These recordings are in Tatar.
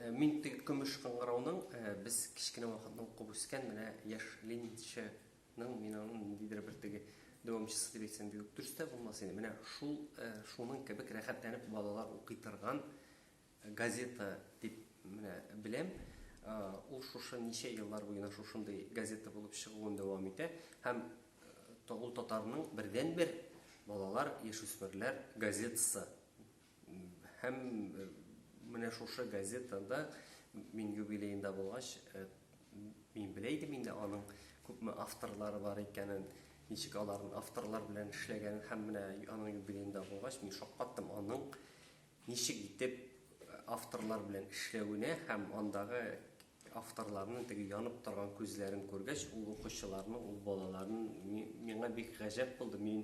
Э, мин теге көмеш кыңгырауның э, без кечкенә вакытның куып үскән менә яшь ленинчының мин аның ниндидер бер теге дәвамчысы дип әйтсәм бик дөрес тә булмас инде менә шул э, шуның кебек рәхәтләнеп балалар укый торган газета дип менә беләм ул шушы ничә еллар буена шушындый газета булып чыгуын дәвам итә һәм ул татарның бердән бер балалар яшүсмерләр газетасы Һәм менә шушы газетада мин юбилеенда булгач, мин белә идем инде аның күпме авторлары бар икәнен, ничек аларның авторлар белән эшләгәнен һәм менә аның юбилеенда булгач, мин шаккаттым аның ничек итеп авторлар белән эшләвенә һәм андагы авторларның теге янып торган күзләрен күргәч, ул укучыларны, ул балаларны миңа бик гаҗәп булды. Мин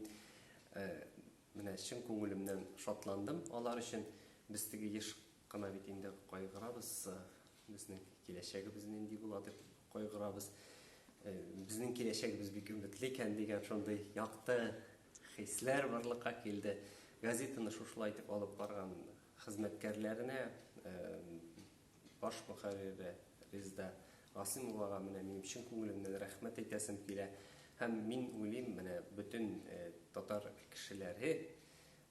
Менә чын күңелемнән шатландым алар өчен. Без теге еш кына бит инде кайгырабыз, безнең киләчәгебез нинди була дип кайгырабыз. Безнең киләчәгебез бик өметле икән дигән шундый якты хисләр барлыкка килде. Газетаны шушылай итеп алып барган хезмәткәрләренә, Баш мөхәррире Резда Гасыймовага менә минем чын күңелемнән рәхмәт әйтәсем килә. Һәм мин уйлыйм, менә бөтен татар кешеләре,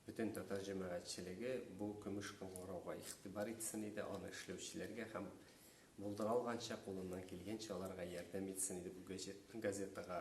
бөтен татар җәмәгатьчелеге бу көмеш кыңгырауга игътибар итсен иде, аны эшләүчеләргә һәм булдыра алганча, кулыннан килгәнчә аларга ярдәм итсен иде бу газетага